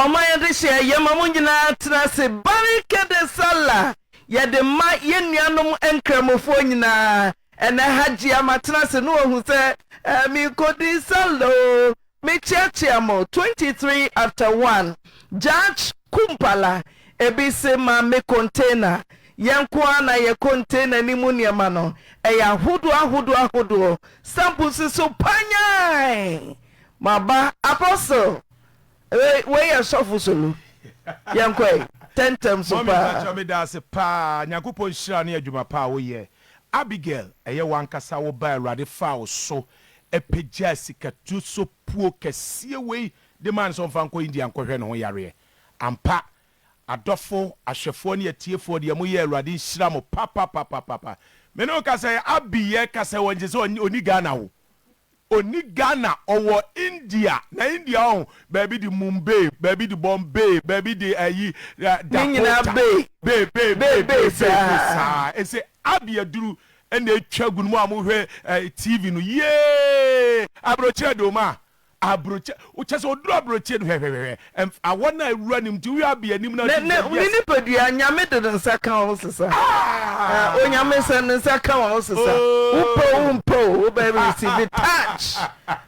Ɔma yɛde hyɛ yɛn ma mo nyinaa tena ase Barikede Sallah yɛde ma yɛn nuanom Nkramofoɔ nyinaa Ɛnɛ Hajia matena ase na wahu sɛ eh, merekɔdi Sallah o Mekyeakyea mo 23 after 1 Judge Kumpala Ebi se ma me container Yɛn nko ara na yɛ container no mu nneɛma no Ɛyɛ ahodoɔ ahodoɔ ahodoɔ Stamp si so panyaae Maba Apostle Wei wei yɛ sɔfo solo yɛn kɔ ɛ tɛntɛm so Mummy paa. mpakyɛ medase paa nyankopɔn nhyira ne adwuma pa a woyɛ Abigail ɛyɛ wankasa wo ba awurade faa wo so pagyaa sikatuso puo kɛseɛ wei de maa no sɛ ɔmfa nkɔ India nkɔhwɛ ne ho yareɛ ampa adɔfo ahwɛfoɔ ne atiefoɔ deɛ moyɛ awurade nhyira mo papapapapapa mene wo kasa yɛ Abi yɛ kasa wɔ ngyesɛ ɔni Ghana wo Ɔni Ghana, ɔwɔ India, na India ɔho baabi de Mumbay, baabi de Bombay, baabi de ayi Dakota, bay bay bay bay bay bay saa ɛsɛ Abi aduru na ɛtwa gu no mo a mo hwɛ TV no yee abrokyire de ɔmo a abrokyire kyɛsɛ ɔduru abrokyire no hwɛhwɛhwɛ Ɛmf awɔ no a awura nim nti woyɛ abɛ anim na akyiri sɛ yes. Ne nipadua nyame de ne nsa ka wo sesa ah onyame sɛ ne nsa ka wo sesa wo pɛ o wo mpɛ o wo bɛ receive touch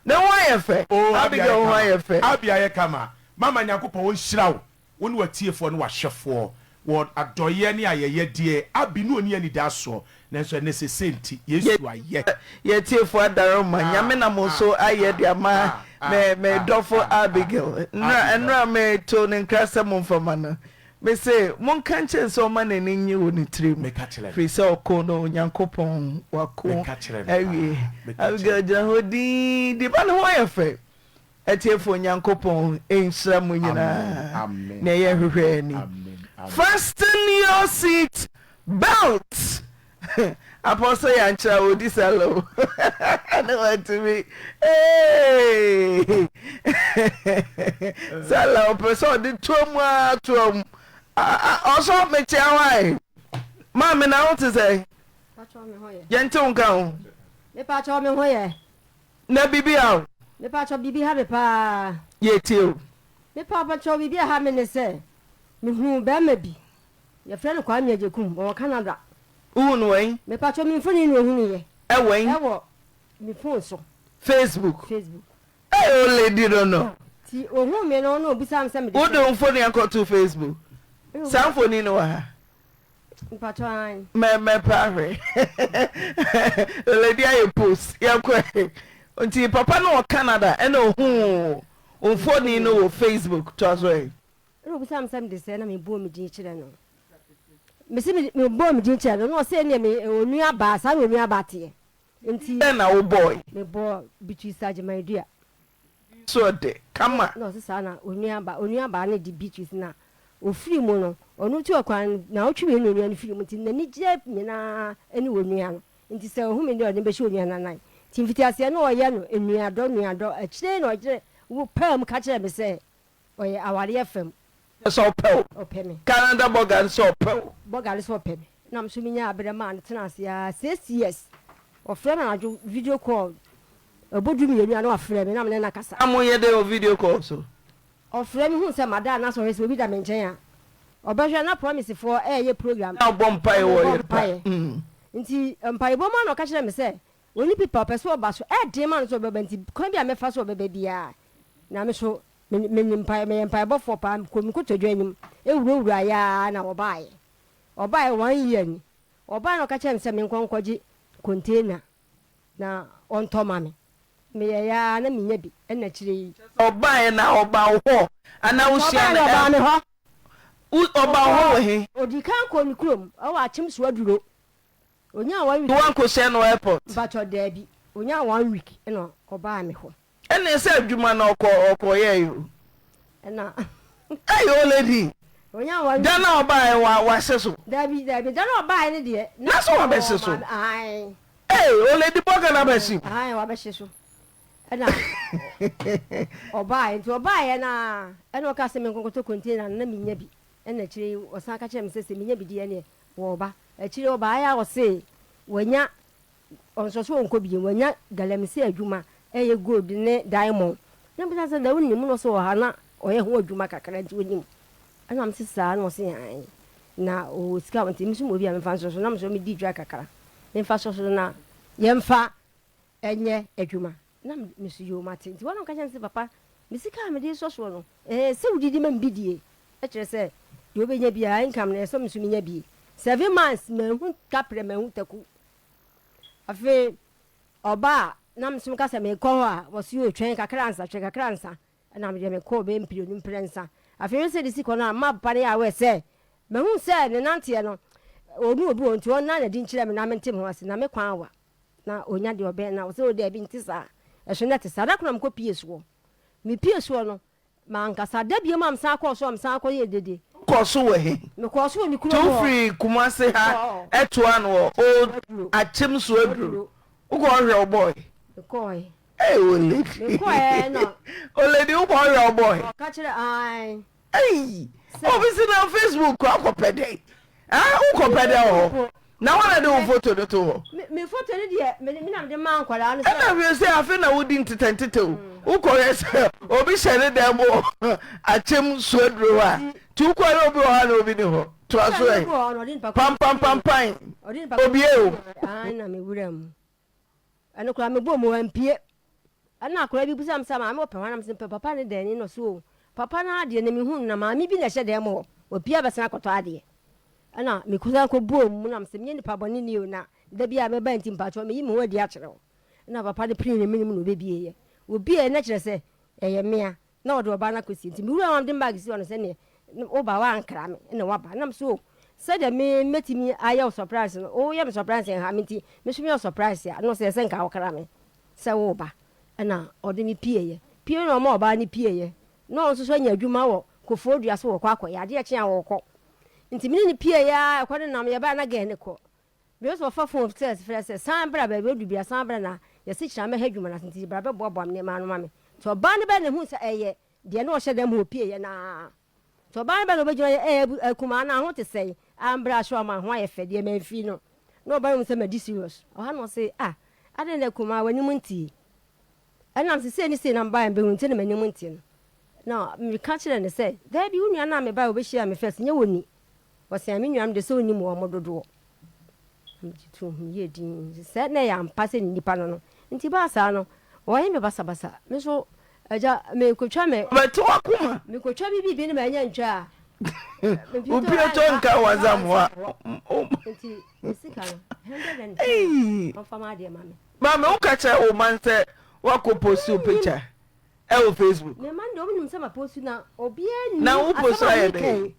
ne ho ayɛ fɛ Abigail ho ayɛ fɛ. Abia yɛ kama mama nyankopɔn ɔnhyira wo wo ne w'atiefoɔ ne w'ahwɛfoɔ Wɔ adɔeɛ ne ayɛyɛ deɛ abi ne ɔni anidasoɔ, nanso ɛnɛ sese nti Yesu ayɛ. Yɛ tiefo adaroma Nyame nam wo so ayɛ de ama me me dɔfo Abigail nnura nnura me to ne nkra sɛ mo nfa ma no me se mo nka nkyɛ no sɛ ɔma n'ani nye wɔ ne tiri mu firi sɛ ɔko no Nyankopɔn wako awie Abigail gyina hɔ dinn di ba ne ho yɛ fɛ Atiefo Onyankopɔn nhyira mo nyinaa nea yɛhwehwɛ ni. Fasten your seat belt Apostle Yankyerɛ a ɔdi sa low na watumi eeii sa low ɔpɛ sɛ ɔde toa mu ara toa mu ɔsɔ mekyea wo ae maame na wo te sɛ yɛnte wo nka ho. Mepakyɛw me ho yɛ. Na bibi a o. Me pa kyɛw bibi ha me paa. Yɛ tie o. Me pa pa kyɛw bibi a ha me ne sɛ me huu bɛɛma bi yɛ frɛ no Kwame Agyekum ɔwɔ Canada. Wo hu no wɔ he? Me pa kyɛw me mfoni na ohunu yɛ. Ɛwɔ he? Ɛwɔ me phone so. Facebook. Facebook. Ei o lady no no. Ti ohuu me no na obisaa me sɛ me de sɛ. Wo de wo mfoni akɔ to Facebook. Saa mfoni no wɔ ha. Mpatsɔ aane. Mɛ mɛ pɛ ahwɛ leledi ayɛ post yɛ kɔ ɛ nti papa no wɔ Canada ɛna ohuu onfoni no wɔ Facebook toa so ɛ. Ɛna obisa me sɛ mede sɛ na me bɔɔ me din kyerɛ no me se me me bɔɔ me din kyerɛ no na ɔse ɛneɛ me onua baa saa na onua baa teɛ nti. Din bɛn na wo bɔɔe. Me bɔɔ Beatrice Agyeman Dua. So ɔde ka ma. Na ɔse saa na onua baa onua baa no de Beatrice na ofiri mu no ɔno tu ɔkwan no naawɔtwe mmienu na onua no firi mu nti nani gyɛ nyinaa ɛne onua no nti sɛ ohu me deɛ ɔde me bɛhyɛ onua no anan nti mfitiaseɛ no ɔyɛ no nua dɔ nua dɔ akyire yi na ɔgyere wo paa mu ka kyerɛ me sɛ Ɔyɛ awareɛ fam. Ne sɛ ɔpɛ wo. Ɔpɛ me. Canada bɔga ne sɛ ɔpɛ wo. Bɔga ne sɛ ɔpɛ me. Na me nso me nyaa aberɛ maa no tenaa ase ara six years. Ɔfrɛ me anadwo video call ɛbɔ du mmienu a na wafrɛ me na me ne no akasa. Na mo yɛ dɛn wɔ video call so? Ɔfrɛ me hu sɛ mada a na sɛ ɔhwɛ sɛ obi da me nkyɛn a ɔbɛhwɛ na promise foɔ ɛɛyɛ program. Na ɔbɔ mpaeɛ wɔ yere paa. Nti mpaebɔ mu a na ɔka kyerɛ me sɛ Ɔnni pepa, ɔpɛ sɛ ɔba so, ɛyɛ den ma no sɛ ɔbɛba nti kwan biara a mɛfa so a ɔbɛba biara na me so menim mpaeɛ, meyɛ mpaebɔfoɔ paa, mekɔɔ me nkotodwe anim wurawuraeɛ ara na ɔbaeɛ. Ɔbaeɛ one year ni, ɔbaeɛ na ɔka kyerɛɛ me sɛ menkɔ nkɔgye container na ɔntɔ ma me, meyɛeɛ ara na mennya bi ɛna akyire yi. Ɔbaeɛ na ɔbaa wo hɔ anaa wo hyia no ɛl. Ɔbaa me hɔ. Ɔbaa wo hɔ wɔ he? Ɔdii kan kɔɔ ne kurom ɛwɔ Akyem Suaduro. Onyaa one week. Nti wankɔhyia no wɔ airport? Mpakyɛ daabi, onyaa one week na ɔbaa me hɔ. Ɛnneɛ sɛ adwuma na ɔkɔ ɔkɔ yɛɛe o. Ɛna. Ɛyi o lady. Onyaa one week. Da no a ɔbaaɛ wa wahyɛ so? Daabi daabi, da no a ɔbaaɛ no deɛ. Na sɛ wabɛhye so? Ae. Ei o lady bɔ Ghana ba hyɛ mu. Ae wabɛhye so. Ɛna ɔbaaɛ nti ɔbaaɛ no ara ɛna ɔkaa sɛ menkɔnkɔtɔ container no na mennya bi. Ɛna akyire yi ɔsan ka kyerɛɛ me sɛ sɛ menya bi deɛ ɛnneɛ Wɔba. Akyiri yi ɔbaeɛ a ɔsee wanya, ɔnso so ɔnkɔ bio, wanya galamsey adwuma ɛyɛ gold ne diamond. Na mebisa no sɛ na wonim? Na ɔse ɔha na ɔyɛ ho adwuma kakra nti ɔnim. Ɛna mese saa? Na ɔse aane. Na ɔwɔ sika nti me nso mewɔ bi a memfa nsɔ so. Na mesɔre medi dwa kakra memfa sɔ so na yɛmfa nyɛ adwuma. Na me me so yoo mate. Nti wɔnom ka kyerɛ no sɛ, Papa, me sika a mede resɔ soɔ no, ɛɛ sɛ wode di ma me bi die? Ɛkyerɛ sɛ, deɛ wobɛnya biara, income no, ɛsɛ me nso menya bi. Seven months, manhu kaprɛ, manhu taku. Afei ɔba a na me nso meka sɛ merekɔ hɔ a, wɔse oo twɛn kakra ansa, twɛn kakra ansa. Ɛna me deɛ mekɔɔ bɛyɛ mprenu mprɛnsa. Afei me sɛ de si kɔ no a, mmaa papa no yɛ aware sɛ, mahu sɛ ne nanteɛ no, ɔnu obi wɔ hɔ nti ɔnna n'adi nkyerɛ me na mente me ho ase, na me kwan awa. na onya deɛ ɔbɛn na ɔsɛ o daabi nte saa ɛso na ɛte saa da koro na mekɔ pie soɔ mepie soɔ no mankasa da biom a mesan kɔɔ so a mesan kɔ yɛ dede. Wokɔɔ so wɔ he? Mekɔɔ so wɔ me kurom hɔ. Nti wofiri Kumase ha ɛtoaa no wɔ Old Akyem so aduro wokɔɔ hwɛ wo boy? Mekɔɔɛ. Ei olady. Mekɔɔɛ na. Olady wokɔɔ hwɛ wo boy? Ɔka kyerɛ ae. Eii obi se na Facebook kɔ akɔ pɛ dɛ eh wo kɔ pɛ dɛ wɔ hɔ na wan na de wo foto no to hɔ. Me foto no deɛ me na mede maa nkwadaa no sɛ. Ɛna hwɛ se afe na wo di ntetɛ ntetɛ o wo kɔ hwɛ sɛ obi hyɛ ne dan mu wɔ akyem suaduro hɔ a ti wo kɔ hwɛ obi wɔ hɔ a na obi ni hɔ toa so ɛ pampampampae obie o. Aane na me wura mu Ɛno koraa mebɔɔ mu wampue. Ɛna akwadaa bi bisaa me sɛ, Maame wɔpɛ hwan? Na mese, Mepɛ papa ne dan ni. Na ɔse, O, papa no ara deɛ na mehu no, na maame bi na ɛhyɛ dan mu hɔ. Wapue abɛsan akɔtɔ adeɛ. Ɛna mekɔsan kɔbɔɔ mu na mese, Menyɛ nipa bɔne ni o, na da biara a mɛba nti mpakyɛw meyi me ho adi akyerɛ wo. Ɛna papa no pirii ne menem na ɔbɛbieeɛ. Wɔbieeɛ no kyerɛ sɛ, ɛyɛ mmea. Na ɔde ɔbaa no akɔsie. Nti me wura no de me baage sii hɔ no sɛ neɛ wo ba woankra me na woaba. Na me so o, sɛdeɛ me mɛtumi ayɛ wo surprise no, woyɛ me surprise ɛnha me nti, me nso meyɛ wo surprise a, na ɔsɛ ɛsɛ nka wokra me sɛ woreba. Ɛna ɔde me pieeɛ. Pie no na ɔma ɔbaa no pieeɛ. Na ɔno nso so anya adwuma wɔ kofoɔ dua so wɔkɔ akɔyɛ. Adeɛ kye a wɔkɔ. Nti me ne no pieeɛ ara, ɛkɔ ne nam, yɛbaeɛ na gɛɛ no kɔ. Bio so wɔfa fon frɛ frɛ sɛ san bra baabi a odu biara san bra na yɛasekyerɛ amɛha adwuma no ase nti bra bɛboaboa me nneɛma ano ma me. Nti ɔbaa no bɛn na ehuu sɛ ɛyɛ deɛ na ɔhyɛ da mu opie yɛ no ara. Nti ɔbaa no bɛn na obegyina yɛ ɛɛ abu akumaa no a ho te sɛn a mbra ahyɛ ɔma a ho ayɛ fɛ deɛ manfiri no. Na ɔbaa no hu sɛ madi serious. Ɔha na ɔse ah adɛn na akumaa w'anim nte yi. Ɛnam sɛ sei ne sei na mebaeɛ no bɛhu nti na m'anim nteɛ no, na meka kyerɛɛ no sɛ, Daabi, wo nua no a mebaeɛ a ɔbɛhyiaa me first, nyɛ wɔn ni. Wɔsɛn me nuanom deɛ sɛ ɔnnim wɔn dodoɔ. Na megye too ho, meyɛɛ dinn sɛ na ɛyɛ ampa sɛ ne nipa no no. Enti ɛbaa saa no, wɔyɛ me basabasa. Me nso, agya, mekɔtwa me. Ɔbɛte w'akoma. Mekɔtwa me biribi no manya ntwaa. Wo piatɔ nka w'azamoa. Enti me sika no, hundred and ten, ɔmfa m'adeɛ mma me. Maame wo ka kyerɛ wo man sɛ wakɔ postu picture ɛwɔ Facebook. Me man deɛ ɔmo nim sɛ ma postu na obiara nim asɛm a meka yi. Na wo postu ayɛ dɛn?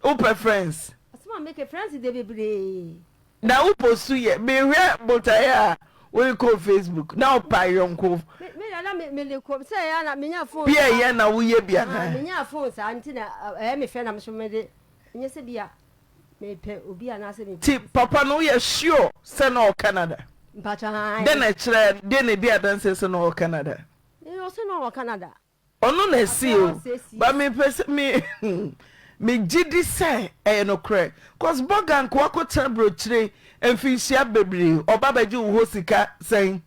Wo pɛ friends. Asɛm a meka friends deɛ bebree. Na wo postu yɛ me hwɛ botaeɛ a wo de kɔɔ Facebook na wo pa yɔnko. Me me dada me me de kɔ sɛ ɛyɛ na me nya phone. Bia ɛyɛ na wo yɛ bi anaa. Me nya phone saa nti na ɛyɛ me fɛ na me so me de nyɛ sɛ bia. Mepɛ obi anaasɛ mepɛ Nti obi. papa no woyɛ sure sɛ na ɔwɔ Canada? Mpakyɛ aane. Dɛn na ɛkyerɛ, deɛ na ɛdi adanseɛ sɛ na ɔwɔ Canada? Ee ɔse na ɔwɔ Canada. Ɔno na asi o but me pɛ sɛ me me gye di sɛ ɛyɛ nokorɛ cos bɔga nka wakɔ tena brokyire mfinhyia bebree ɔba bɛgye wo hɔ sika sɛn.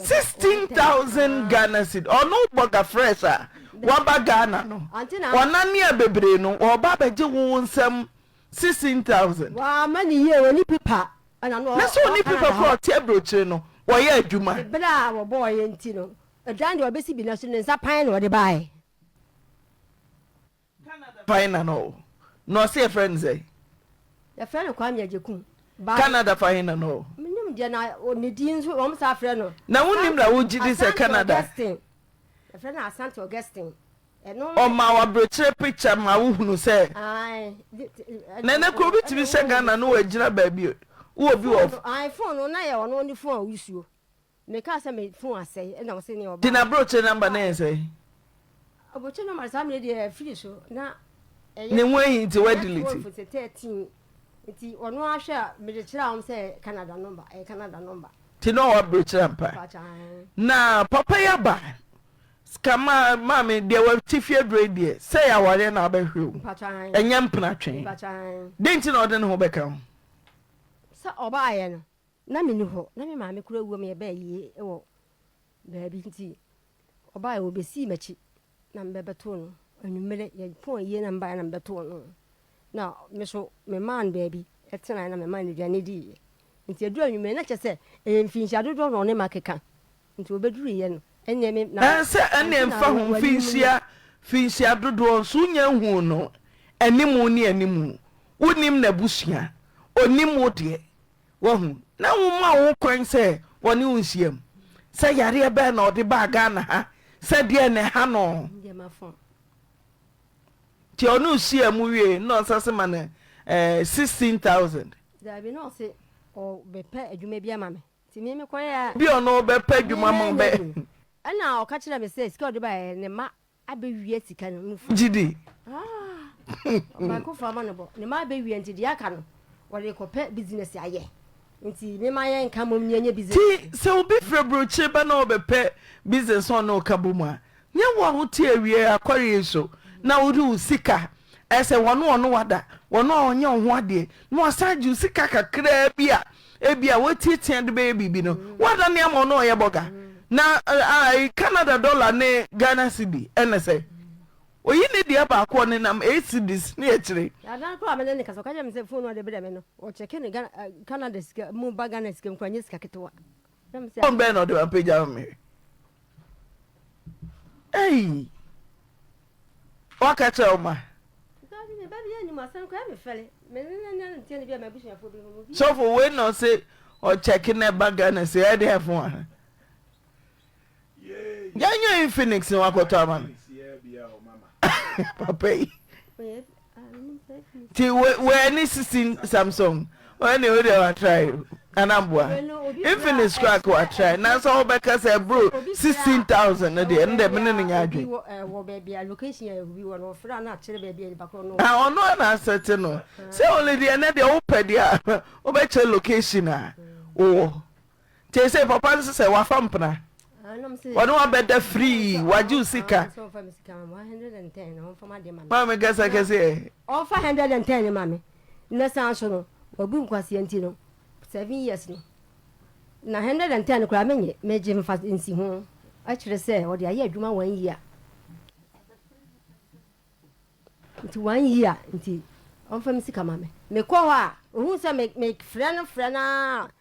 sixteen thousand Ghana cedi ɔno bɔ gafrɛs a waba Ghana no ɔnane a bebree no ɔba abɛgye wo nsɛm sixteen thousand na sɛ ɔni pipa kora ɔte aburokyire no wɔyɛ adwuma. Ebere a wɔbɔɔ yɛ nti no, aduane deɛ ɔbɛsi bi na so ne nsa pan na ɔde baeɛ. Canada pahenan na ɔwɔ? Na ɔse yɛfrɛ no sɛn? Yɛfrɛ no Kwame Agyekum ba. Canada pahenan na ɔwɔ? Menim deɛ na ne din nso wɔn saa frɛ no. Na wonim na wogye di sɛ Canada. Asante Augustine. Yɛfrɛ no Asante Augustine. Ɔma wo aberekyerɛ picture ma wo hunu sɛ. Na ɛnɛ kura obi tumi hyɛ Ghana no wagyina baabi wowɔ bi wɔ. Ae phone no na yɛ ɔno ne phone a ɔyusuo. Me kaa sɛ me phone asɛe ɛna ɔse nea ɔbaa. Nti na brokyire number no yɛ sɛn? Brokyire number no saa mmerɛ deɛ afiri so na ɛyɛ. Ne ho ahi nti wa delete. Ɛyɛ twelve nti thirteen nti ɔno ara hwɛ a mede kyerɛ wɔn sɛ Canada number ɛyɛ Canada number. Nti na ɔwɔ brokyire ampa. Na papa yi aba sika ma maame deɛ wɔ ti fie duro yi deɛ sɛ yɛ awareɛ na abɛhwɛ o ɛnyɛ mpena twɛn. Dɛn nti na ɔde ne ho bɛka ho? Sɛ ɔbaayɛ no. Ná minni hɔ, na me maame kura awuo ma yɛbaa ayie wɔ baabi nti ɔbaeɛ ɔbɛsii m'akyi na mebɛbɛtoo no anwummerɛ. Yɛpɔn ayie na mebaeɛ na mebɛtoo no na me nso memaa no baabi tenaeɛ na memaa no aduane diiɛ. Nti ɛduru anwummerɛ na kyerɛ sɛ ɛyɛ mfinhyia dodoɔ na ɔne me akeka nti ɔbɛduruiɛ no ɛnneɛ me na Ɛnsɛ ɛnneɛ nti na mfa ho w'anim no. mfinhyia finhyia dodoɔ nso wonnya nhuu no anim ne anim. Wonnim n'abusua, ɔnnim wo deɛ. Wahu? Na woma wo ho kwan sɛ wɔne wo nhyiam. Sɛ yareɛ bɛn na ɔde baa Ghana ha? Sɛ deɛn na ɛha no? Nti ɔne wo hyia mu wie na ɔsan se ma no eh, sixteen thousand. Daabi na ɔse ɔbɛpɛ adwuma bi ama me nti me mekɔyɛ a. Bi ɔno ɔbɛpɛ adwuma ma bɛ. Ɛna ɔka kyerɛ me sɛ sika ɔde baeɛ ne mma abɛwia sika no mu fa. Gye di. Ɔbaakofo ama no bɔ. Ne mma abɛwia nti deɛ aka no, wɔde rekɔpɛ bisinɛse ayɛ. Nti mema yɛnka mmom na yɛnyɛ bisinɛse. Nti sɛ obi firi aburokyire ba na ɔrebɛpɛ bisinɛse a ɔne wo ka bom a, nyɛ wo a wote awiee akware yi so na wode wo sika, ɛyɛ sɛ wɔne wɔn wada, wɔn a wɔnyɛ wo ho adeɛ, na wɔasan agye wo sika kakraa bi a Ebia woatiatia de bɛyɛ biribi no, woadane ama ɔno a ɔyɛ bɔga. Na ae Canada dɔla ne Ghana cedi ɛne sɛ. Oyi ne dua baako a ɔnenam eight cedis ne akyire. Adan koro a me ne no kasa, ɔka kyerɛ me sɛ fon a ɔde brɛ me no, ɔkyɛke no Canada sika mu ba Ghana sika mu koraa, ɛnyɛ sika ketewa. Phone bɛn na ɔde ma pagya ma mehwɛ. Ei! Waka kyerɛ wo ma? Sɔfo wei na ɔse ɔkyɛke na ɛba Ghana sei ɛdeɛn fo a? Yɛnyɛ yi Phoenix na wakɔtɔ ama me. Papa yi. Ti wɔ ɛne sixteen Samsung. Wɔn na ɛwɔ wa try o. Anamboa. Infinix kura ka wa try. Nanso wɔn bɛ kasa ɛburo sixteen thousand no deɛ ɛnna ɛmi ne ne nya adwene. Wɔ baabi a location yɛ bi wɔ no ɔfra na akyerɛ baabi a nipa koro no. A ɔno a na asɛte no. Sɛ wɔn deɛ ɛnɛ deɛ wɔpɛ deɛ a wɔbɛkyerɛ location a wɔwɔ. Seesei papa nso sɛ wafa mpena, wɔne wabɛda firii, wagye wo sika. Maame kasa kɛse ɛ. Ɔmfa 110 no ma me. Na san so no, wabu nkwaseɛ nti no, seven years no, na 110 no koraa menye megye mfa nsi ho. Ɛkyerɛ sɛ ɔde ayɛ adwuma one year. Nti one year nti ɔmfa me sika ma me. Mekɔ hɔ a, ohun sɛ me mefrɛ no frɛ no ara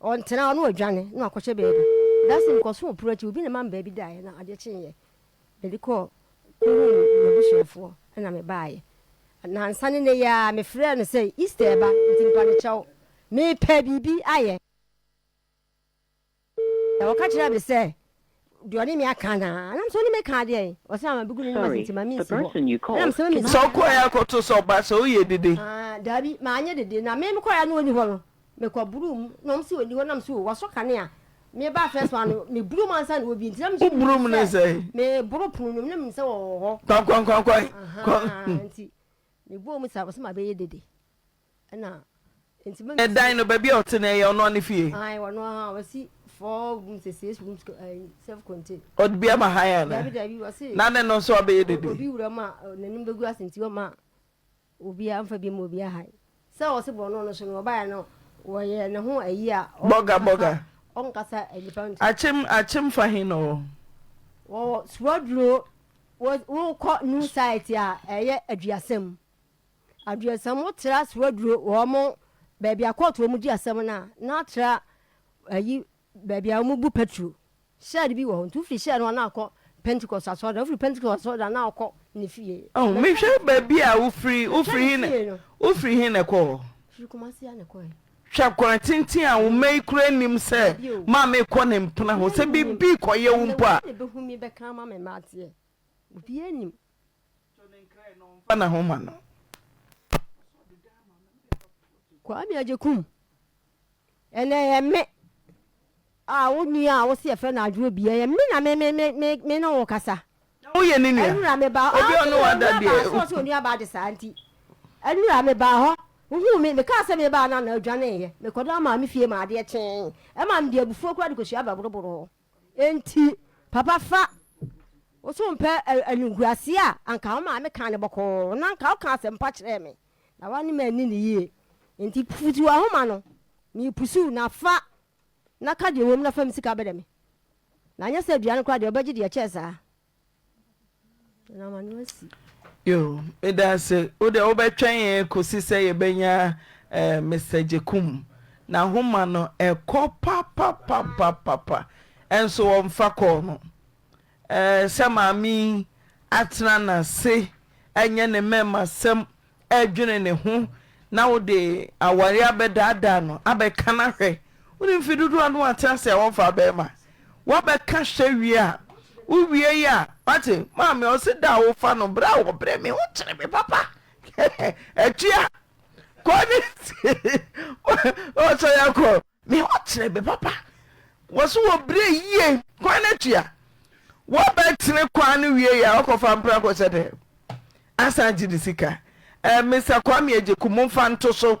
Ɔntena hɔ na ɔdwane na wakɔhyɛ baabi. Dustin mekɔsoo pono akyi, obi na ɛma me baabi daeɛ na adeɛ kyeeɛ mede kɔɔ kɔhuu m'abusuafoɔ na mebaeɛ. Nnansa ne nnɛ yi ara mefrɛɛ no sɛ Easter reba nti mpa me kyɛw mepɛ biribi ayɛ. Ɔka kyerɛɛ me sɛ Deɛ ɔne me aka anaa? Ɛnam sɛ ɔne me aka adeɛn? Ɔse ama bɛgu no ne m'ase nti ma mensi hɔ. Ɛnam sɛ me Sɛ ɔkɔeɛ a kɔto sɛ ɔba sɛ woyɛ dede. Aah daabi manyɛ dede na me mekɔeɛ a na ɔnni hɔ no me kɔ boroo mu na ɔmo se ɔnni hɔ nam se oo wasɔ kanea me baa first one no me boroo mu ansa na ɔbie nti na me nso Woboro mu ne sɛn? me boro pono no mu na menim sɛ ɔwɔ hɔ Kwankwankwankwan! Ahaa nti me bɔɔ mu saa ɔse ma bɛyɛ dede. Ɛna nti mɛmɛ. Ɛdan no baabi a ɔte no ɛyɛ ɔnoa ne fie. Ae ɔno aha ɔsi four room sɛ six room ɛɛ self contain. Ɔde bi ama han ana. Dabi dabi ɔsi. Na ne no nso abɛyɛ dede. Obi wura mu a n'anim bɛgu ase nti ɔma obi anfa bi ma obi ahan sɛ ɔsi bɔ ɔno no so no ɔbaayɛ no wɔyɛ ne ho ayi a. Bɔga bɔga. Ɔnkasa nipa nti. Akyem akyem fa he na ɔwɔ. Wɔwɔ suaduro wokɔ new site a ɛyɛ aduasa mu. Aduansɛmfo tra so aduru wɔn baabi a kɔɔto wɔn di asɛm no a, na atra ayi baabi a wɔbu petro, shed bi wɔ hɔ. Nti wofiri shed no hɔ na wɔkɔ Pentecost asɔredan, wofiri Pentecost asɔredan na wɔkɔ ne fie. Oh, mehwɛ baabi a wofiri, wofiri he na, wofiri he na ɛkɔ hɔ? Firi Kumasi a na ɛkɔ he. Hwɛ kwan tenten a wo mma yi koraa nnim sɛ maame rekɔ ne mpena hɔ, sɛ biribi rekɔyɛ wo mpo a. Hena na ebehu me bɛka ama me mma ateɛ? Obiara nnim. Tɔ ne nkra yi na ɔmfa n'ahoma no. Kwame Agyekum, ɛnɛ ɛyɛ me a wo nua a wo se yɛfrɛ no Adwo Obia, ɛyɛ me na me me me me me ne wo kasa. Na woyɛ ne nua? Anura me baa hɔ, Obi a ɔne wo ada deɛ. Anura baa hɔ, sɛ onua baa de saa nti. Anura me baa hɔ, wohuu me, mekaa sɛ mebaa no a na odwaneeɛ. Mekɔdaa maame fie maa adeɛ kyeeɛ, ɛmaa mede abufuo koraa de kɔsuaa bɛ boroboro hɔ. Enti, papa fa, wo so wompɛ animguase a anka wo maame kaa no bɔkɔɔ na anka woka asɛmpa kyerɛɛ me, na woane me anni no yie. Enti pusuw ahoma no. Merepusuw, na fa na ka deɛ ɛwom na fa me sika bɛdɛ me. Na anyɛ saa aduane koraa deɛ ɔbɛgye deɛ ɛkyɛɛ saa. Yoo, medaase. Wo deɛ wobɛtwɛn yɛn kɔsi sɛ yɛbɛnya eh, Mister Gyekum. N'ahoma no, ɛkɔ papapapapapa. Ɛnso wɔmfa kɔɔ no. Eh, sɛ maame yi atena n'ase, ɛnyɛ ne mɛɛmasɛm dwene ne ho na wode aware abɛdaadaa no abɛka no ahwɛ wonim mfe dodoɔ a na watena ase a wɔmfaa bɛrima wabɛka hwɛ wie a wowie yi a wate maame ɔse da a wofa no berɛ a wɔbrɛ me ho kyere me papa atua kɔ ne ɔsɛ yɛkɔ Me hɔ tene bɛ papa wɔ so wɔ brɛ yie kwan no atua wɔ bɛ tene kwan no wie yɛ a ɔkɔ fa mpra kɔ sɛ dɛ asan gye ne sika ɛɛ Mister Kwame Agyeku mo nfa nto so